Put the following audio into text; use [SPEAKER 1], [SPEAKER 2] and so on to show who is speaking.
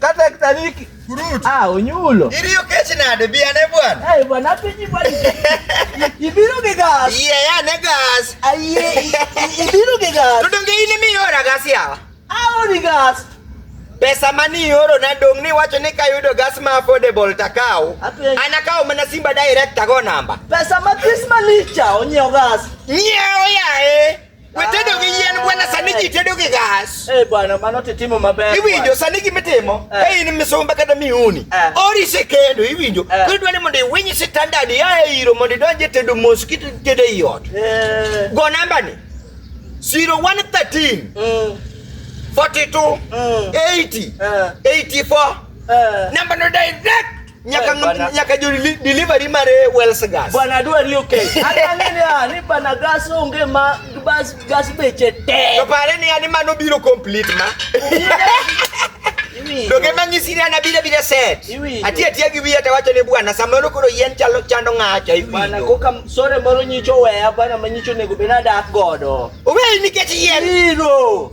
[SPEAKER 1] Kata kitariki. Kurut. Ah, onyulo. Iriyo kech
[SPEAKER 2] nade bi ane bwana. Ai bwana pinyi bwana.
[SPEAKER 1] Ibiro gi gas. Iye ya ne gas.
[SPEAKER 2] Aiye
[SPEAKER 1] ibiro gi gas. Tudonge ini mi ora
[SPEAKER 2] gas yawa. Ah, ori gas.
[SPEAKER 1] Pesa
[SPEAKER 2] mani ioro na dong ni wacho ni kayudo gas ma affordable takaw. Ana kaw mana Simba direct tago namba. Pesa ma Chris
[SPEAKER 1] Malicha onyiew gas. Nyiew yae.
[SPEAKER 2] Wetedo gi yien bwana, sani ji tedo gi gas. Eh bwana, mano titimo
[SPEAKER 1] maber. Iwinjo sani gimitimo,
[SPEAKER 2] eh. eh in misumba kata miuni. Eh. Ori se kendo iwinjo. Eh. Kudwa ni mondo iwinyi standard ya e iro mondo idonje tedo mos kit tedo e iot. Eh. Go namba ni. 0113 mm. 42 mm. 80 uh. 84 uh. Namba no direct nyaka Bana. nyaka jo deli- delivery mar eh, Wells gas. Bwana dua ni okay.
[SPEAKER 1] Hata nini ah, ni bana gas onge ma bas gas beche te. To pare ni ani mano
[SPEAKER 2] biro complete ma. Iwi. Doge manyisi ni ana bira bira set. Iwinjo. Ati ati gi wiya tawacho ne bwana samoro koro yien chalo chando ng'acha Bana iwinjo. koka sore
[SPEAKER 1] moro nyicho weya bana manyicho nego bena dak godo. Owe nikech
[SPEAKER 2] yien. Iro.